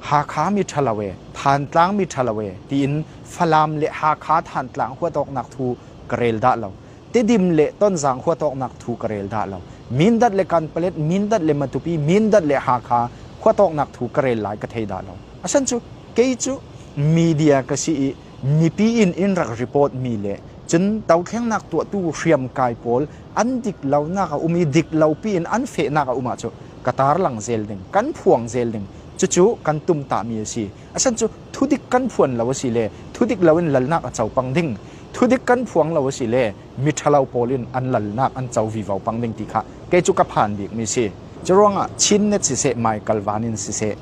Hakha mi ṭhalo e, Thantlang mi ṭhalo e tiin Falam le Hakha Thantlang huat awknak thu ka rel dah lo. Tedim le Tonzang huat awknak thu ka rel dah lo. Mindat le Kanpalet, Mindat le Matupi, Mindat le Hakha huat awknak thu ka rel lai ka thei dah lo. Asan cu kei cu media ka si i mipi in in rak report mi le cun dothlennak tuahtu hriamkai pawl an dik lonak a um i dik lopi in an fehnak a um ahcun ka tarlang zel ding kan phuang zel ding cucu kan tumtahmi a si asan cu thudik kan phuan lo a si le thudik loin lalnak a co pang ding thudik kan phuang lo a si le mi ṭhalo pawl in an lalnak an co vivo pang ding ti kha kei cu ka phan bikmi si cu ruangah chin net siseh mai kalvan in siseh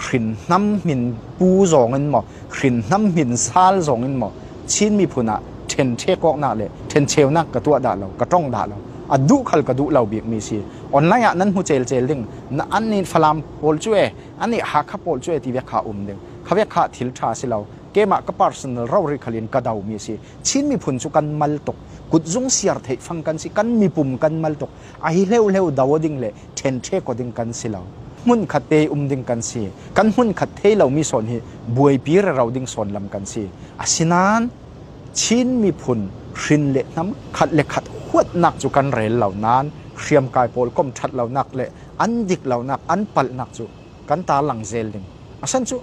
hrin hnam min pu zong in maw hrinhnam hmin sal zong in maw Chin miphun ah ṭhenṭhe kawknak le ṭhencheunak ka tuah dah lo ka tong dah lo a duh khal ka duh lo bik mi si online ah nan hmu cel cel ding na an nih falam pawl cu e an nih hakha pawl cu e ti vek kha um ding kha vek kha thil ṭha si lo keimah ka personal rori khalin ka do mi si Chin miphun cu kan mal tuk kutzung siar theih fang kan si kan mipum kan mal tuk a hi hleuhleu do ding le ṭhenṭhe ko ding kan si lo. Hmunkhat te um ding kan si. Kan hmunkhat thei lomi sawn hi buaipi rero ding sawn lam kan si. Asinain Chin miphun hrin le hnam khat le khat huatnak cu kan rel lo nain hriamkai pawl kom ṭhat lonak le an dik lonak an palhnak cu kan tarlang zel ding. Asan cu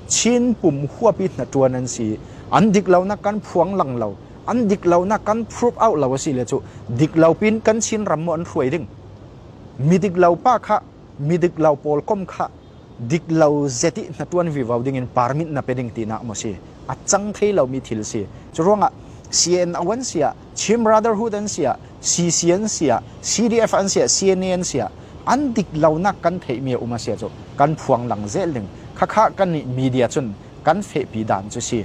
Chin pum huapi hnaṭuan an si i an dik lonak kan phuang lang lo. an dik lonak kan prove out lo a si le cu dik lo pin kan Chin ram maw an hruai ding mi dik lo pa kha mi dik lo pawl kom kha dik lo zeti na tuan vi vau ding in parmit na pe ding ti nak mo si a chang thei lo mi thil si cu ruangah CNO si ah Chin Brotherhood an si ah CC an si ah CDF an si ah CNA an si ah an dik lonak kan thei mi uma sia cu kan phuang lang zel ding khakha kan ni media chun kan fe pi dan chu si